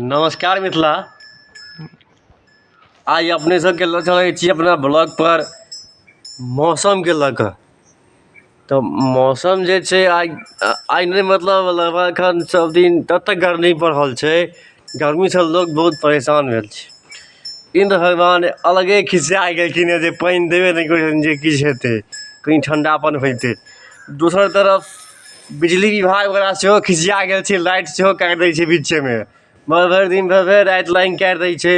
नमस्कार मिथिला आइ अपने सबके लऽ चलै छी अपना ब्लॉग पर मौसमके लऽ कऽ तऽ मौसम जे छै आइ आइ नहि मतलब लगभग एखन सब दिन ततेक गर्मी पड़ल छै गर्मी सऽ लोक बहुत परेशान भेल छै इन्द्र भगवान अलगे खिसिया गेलखिन हँ जे पानि देबे नहि करै छथिन जे किछु हेतै कनी ठण्डापन होइतै दोसर तरफ बिजली विभाग वला सेहो खिसिया गेल छै लाइट सेहो काटि दै छै बीचेमे भरि भरि दिन भरि भरि राति लाइन काटि दै छै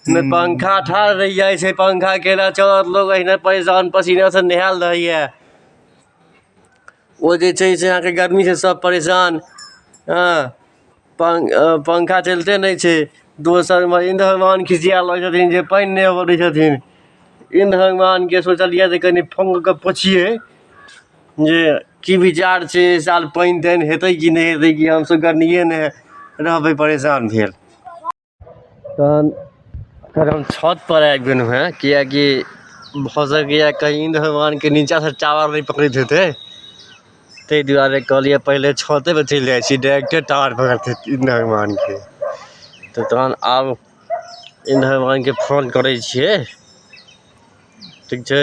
नहि पंखा ठाढ़ रहि जाइ छै पंखा केना चलत लोग एहिना परेशान पसीनासँ नहायल रहैए ओ जे छै से अहाँके गर्मीसँ सभ परेशान हँ पङ् पङ्खा चलिते नहि छै दोसर एमहर इन्द्र भगवान खिसिया लगै छथिन जे पानि नहि अबै दै छथिन इन्द्र भगवानके सोचलियै जे कनि फोन कऽ कऽ पुछियै जे की विचार छै एहि साल पानि तानि हेतै कि नहि हेतै कि हमसभ गर्मिएमे रहबै परेशान भेल तहन फेर हम छत पर आबि गेलहु हे कियकि भऽ सकैया कही इन्द्र भगवान के नीचा से टावर नहि पकड़ैत हेतै ताहि दुआरे कहलियै पहिले छते पर चलि जाइ छी डायरेक्टे टावर पकड़तै इन्द्र भगवान के तऽ तहन आब इन्द्र भगवान के फोन करै छियै ठीक छै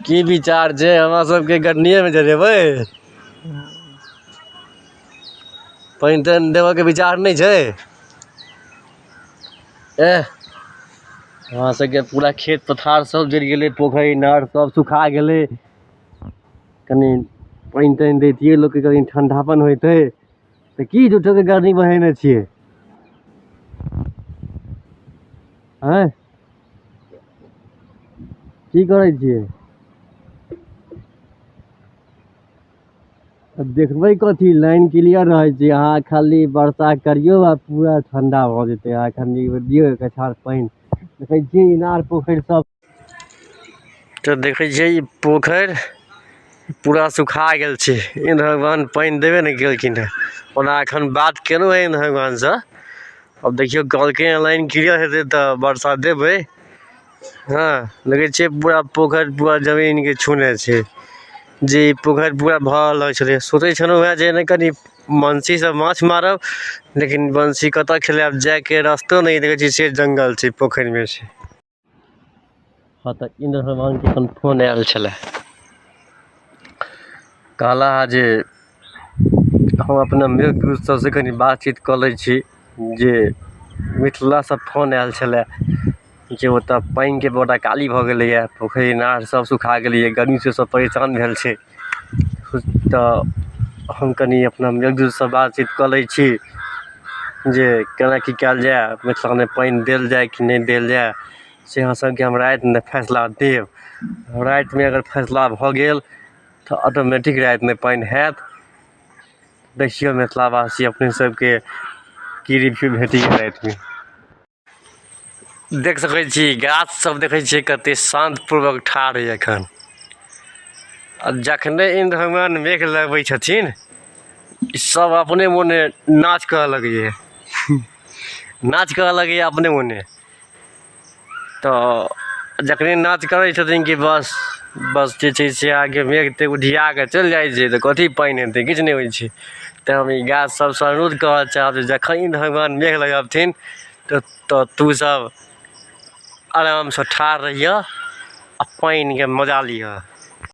की विचार छै हमरा सबके गर्मीए मे जरेबै पानि तानि देबऽके विचार नहि छै एह हमरा सबके पूरा खेत पथार सब जरि गेलै पोखरि इनार सब सुखा गेलै कनि पानि तानि दैतियै लोकके कनि ठण्डापन होइतै तऽ की झूठोके गर्मी बहेने छियै आँय की करै छियै अब देखबै कथी लाइन क्लियर रहै छै अहाँ खाली वर्षा करियौ आ पूरा ठंडा भऽ जेतै अहाँ एखन ई दियौ एक अछाड़ पानि देखै छियै इनार पोखरि सब तऽ देखै छियै ई पोखरि पूरा सुखा गेल छै इन्द्र भगवान पानि देबे नहि केलखिन हँ ओना एखन बात केलहुँ हँ इन्द्र भगवानसँ अब देखियौ कहलकै हँ लाइन क्लियर हेतै तऽ वर्षा देबै हँ लगै छै पूरा पोखरि पूरा जमीनके छूने छै जे ई पोखरि पूरा भरल रहै छलै सोचै छलहुँ हँ जे नहि कनि बंशीसँ माछ मारब लेकिन बंशी कतऽ खेलायब जाइके रस्तो नहि देखै छियै से जङ्गल छै पोखरिमे छै हँ तऽ इन्द्र भगवानके अपन फोन आयल छलय कहला हे जे हम अपना मृत पुरुष सबसँ कनि बातचीत कऽ लै छी जे मिथिलासँ फोन आयल छलय जे ओतऽ पानिके बड्ड अकाली भऽ गेलइए पोखरि इनार सब सुखा गेलइए गरमीसँ सब परेशान भेल छै तऽ हम कनी अपना एक दूसरा सऽ बातचीत कऽ लै छी जे केना की कयल जाय मिथिलामे पानि देल जाय कि नहि देल जाय से अहाँ सबके हम रातिमे फैसला देब रातिमे अगर फैसला भऽ गेल तऽ ऑटोमेटिक रातिमे पानि होयत देखियौ मिथिलावासी अपने सबके की रिव्यू भेटैया रातिमे देख सकै छी गाछ सब देखै छियै कते शान्त पूर्वक ठाढ़ यऽ एखन आ जखने इन्द्र भगवान मेघ लगबै छथिन ई सब अपने मोने नाच करऽ लगैए नाच करऽ लगैए अपने मोने तऽ जखने नाच करै छथिन कि बस बस जे छै से अहाँके मेघ तेघ उधिया कऽ चलि जाइ छै तऽ कथी पानि हेतै किछु नहि होइ छै तैँ हम ई गाछ सबसँ अनुरोध करऽ चाहब जे जखन ई भगवान मेघ लगबथिन तऽ तऽ तू सब आरामसँ ठाड़ रहिहऽ आओर पानिके मजा लिहऽ